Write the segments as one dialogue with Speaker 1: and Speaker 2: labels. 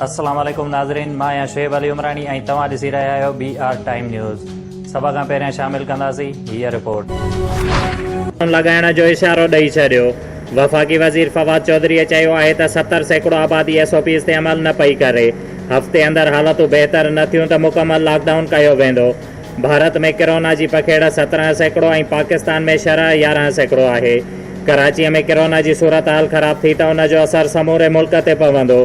Speaker 1: السلام عليڪم ناظرين مان آهيان شعيب علي عمراڻي ۽ توهان ڏسي رهيا آهيو بي آر ٽائيم نيوز سڀ کان پهريان شامل ڪنداسين هي رپورٽ لڳائڻ جو
Speaker 2: اشارو ڏئي ڇڏيو وفاقي وزير فواد چوڌري چيو آهي ته ستر سيڪڙو آبادي ايس او پيز تي عمل نه پئي ڪري هفتي اندر حالتون بهتر نه ٿيون ته مڪمل لاڪ ڊائون ڪيو ويندو ڀارت ۾ ڪرونا جي پکيڙ سترهن سيڪڙو ۽ پاڪستان ۾ شرح يارهن سيڪڙو آهي. ڪراچيء ۾ ڪرونا جي صورتحال خراب ٿي ته ان جو اثر سموري ملڪ تي پوندو.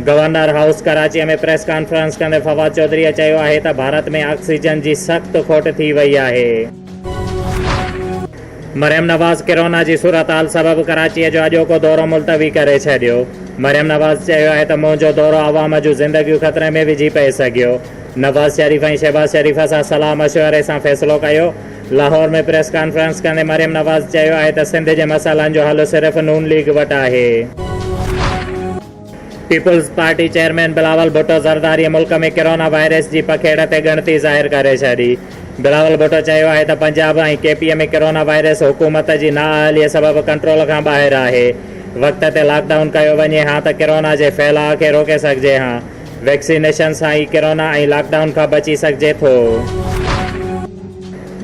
Speaker 2: گورنر هائوس ڪراچيء ۾ پريس ڪانفرنس ڪندي فواد چوڌريء چيو آهي ته ڀارت ۾ آڪسيجن جي سخت کوٽ ٿي وئي آهي. مريم نواز ڪرونا جي صورتحال سبب ڪراچيء جو اڄوڪو دورو ملتوي ڪري ڇڏيو. مريم نواز چيو آهي ته منهنجو دورو عوام جون زندگيون خطري ۾ وجهي پئي سگهيو. نواز شريف ۽ شهباز شريف سان صلاح مشوري سان فيصلو ڪيو. لاهور ۾ پريس ڪانفرنس ڪندي مريم نواز چيو آهي ته سنڌ جي مسئلن جو حل صرف نون ليگ وٽ آهي. Peoples party chairman Bilawal Bhutto Zardari ملڪ ۾ ڪرونا وائرس جي پکيڙ تي ڳڻتي ظاهر ڪري ڇڏي. بلاول ڀٽو چيو آهي ته پنجاب ۽ ڪي پي اي ۾ ڪرونا وائرس حڪومت جي نااهلي سبب ڪنٽرول کان ٻاهر آهي. وقت تي لاڪ ڊائون ڪيو وڃي ها ته ڪرونا جي ڦهلاء کي روڪي سگهجي ها. ويڪسينيشن سان ئي ڪرونا ۽ لاڪ ڊائون کان بچي سگهجي ٿو.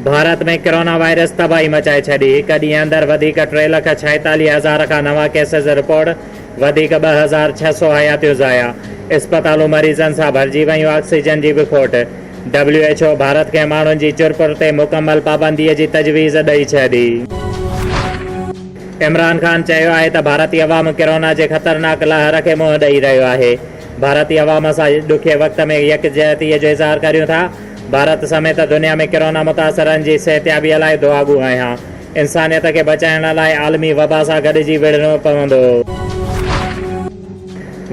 Speaker 2: ڀارت ۾ ڪرونا وائرس تباهي مچائي ڇڏي، هڪ ڏينهن اندر وڌيڪ ٽي لک ڇائيتاليهه هزار کان نوان ڪيسز رپورٽ، وڌيڪ ٻه هزار ڇهه سؤ حياتيون ضايع، اسپتالون مريضن سان ڀرجي ويون، آڪسيجن جي به کوٽ، ڊبليو ايڇ او ڀارت کي ماڻهن جي چرپر تي مڪمل پابندي جي تجويز ڏئي ڇڏي. عمران خان چيو آهي ته ڀارتي عوام ڪرونا جي خطرناڪ لهر کي منهن ڏئي رهيو آهي، ڀارتي عوام سان ڏکئي وقت ۾ يڪجهتي جو اظهار ڪريون ٿا، ڀارت سميت دنيا ۾ ڪرونا متاثرن جي صحتيابي لاء دعاگو آهيان، انسانيت کي بچائڻ لاء عالمي وبا سان گڏجي وڙهڻو پوندو.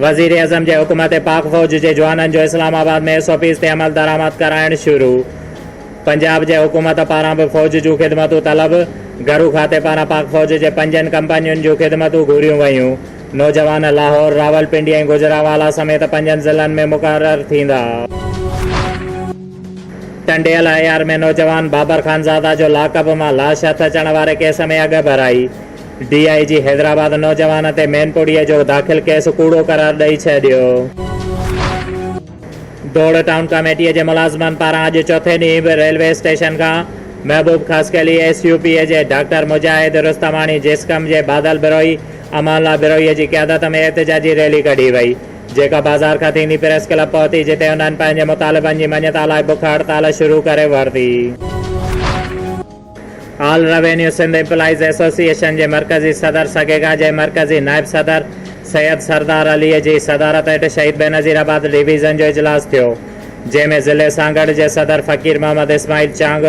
Speaker 2: وزيراعظم جي حڪم تي پاڪ فوج جي جوانن جو Islamabad ۾ S O Ps تي عملدرآمد ڪرائڻ شروع. پنجاب جي حڪومت پاران به فوج جون خدمتون طلب، گهرو کاتي پاران پاڪ فوج جي پنجن ڪمپنين جون خدمتون گهريون ويون، نوجوان لاهور، راولپنڊي ۽ گوجرانوالا سميت پنجن ضلعن ۾ مقرر ٿيندا. ٽنڊيل اي آر ۾ نوجوان بابر خانزاده جو لاڪ اپ مان لاش هٿ اچڻ واري ڪيس ۾ اڳ ڀرائي، ڊي آء جي حيدرآباد نوجوان تي مينپوڙهيء جو داخل ڪيس ڪوڙو قرار ڏئي ڇڏيو. ڊوڙ ٽائون ڪاميٽيء جي ملازمن پاران اڄ چوٿين ڏينهن به ريلوي اسٽيشن کان Mehboob Khaskheli, S U P جي ڊاڪٽر مجاهد رستماڻي، جيسڪم جي بادل بروهي، امان الله بروهيء جي قيادت ۾ احتجاجي ريلي ڪڍي وئي، جيڪا بازار کان ٿيندي پريس ڪلب پهتي، جتي انهن پنهنجي مطالبن جي مڃتا لاء بک هڙتال شروع ڪري ورتي. All revenue Sindh employees association جي مرڪزي صدر سگيگا جي مرڪزي نائب صدر سيد سردار عليء جي صدارت هيٺ شهيد بينظير آباد ڊويزن جو اجلاس ٿيو جنهن ۾ ضلعي سانگهڙ جي صدر فقير محمد اسماعيل چانگ،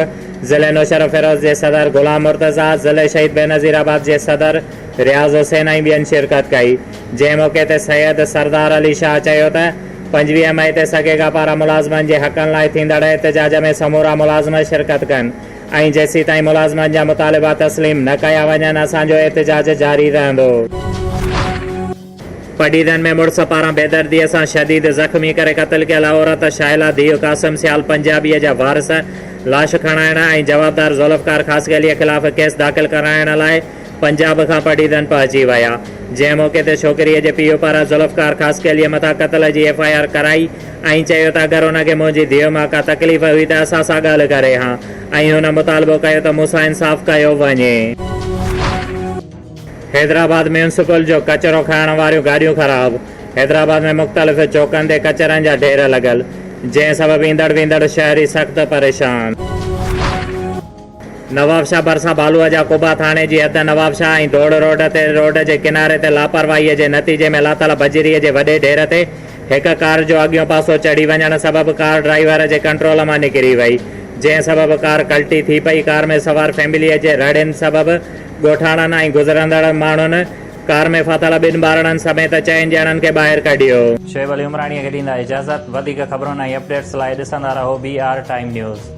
Speaker 2: ضلعي نوشهروفيروز جي صدر غلام مرتضيٰ، ضلعي شهيد بينظير آباد جي صدر رياض حسين ۽ ٻين شرڪت ڪئي جنهن موقعي تي سيد سردار علي شاهه چيو ته پنجويهه مئي تي سگيگا پاران ملازمن جي حقن لاء ٿيندڙ احتجاج ۾ سمورا ملازم شرڪت ڪن. ۽ جيسيتائين ملازمن جا مطالبا تسليم نه ڪيا وڃن اسان جو احتجاج جاري رهندو. پڊيدن ۾ مڙس پاران بيدرديء سان شديد زخمي ڪري قتل ڪيل عورت شاهلا ڌيء قاسم سيال پنجابيء جا وارث لاش کڻائڻ ۽ جوابدار ذوالفقار خاصخيليء خلاف ڪيس داخل ڪرائڻ لاء پنجاب کان پڊعيدن پهچي ويا، جنهن موقعي تي ڇوڪريء جي پيء پاران ذوالفقار خاصخيليء مٿان قتل جي ايف آء آر ڪرائي ۽ چيو ته اگر ان کي منهنجي ڌيء مان ڪا تڪليف هئي ته اسان سان ڳالهه ڪري ها ۽ هن مطالبو ڪيو ته مون سان انصاف ڪيو وڃي. حيدرآباد ميونسپل جو ڪچرو کڻڻ واريون گاڏيون خراب، حيدرآباد ۾ مختلف چوڪن تي ڪچرن جا ڍير لڳل، جنهن سبب ايندڙ ويندڙ شهري سخت پريشان. نوابشاهه ڀرسان ڀالوء جا قبا ٿاڻي جي حد نوابشاهه ۽ ڌوڙ روڊ تي روڊ جي ڪناري تي لاپرواهيء جي نتيجي ۾ لاتل بجريء جي وڏي ڍير تي هڪ ڪار جو اڳيون پاسو چڙهي وڃڻ سبب ڪار ڊرائيور جي ڪنٽرول مان نڪري وئي جنهن سبب ڪار ڪلٽي ٿي پئي ڪار ۾ سوار فيمليء جي رڙين سبب ڳوٺاڻن ۽ گذرندڙ ماڻهن ڪار ۾ ڦاٿل ٻن ٻارڙن سميت چئن ڄڻن کي ٻاهر ڪڍيو. شعيب علي عمراڻيء
Speaker 1: کي ڏيندا اجازت. وڌيڪ خبرن ۽ اپڊيٽس لاء ڏسندا رهو بي آر ٽائيم نيوز.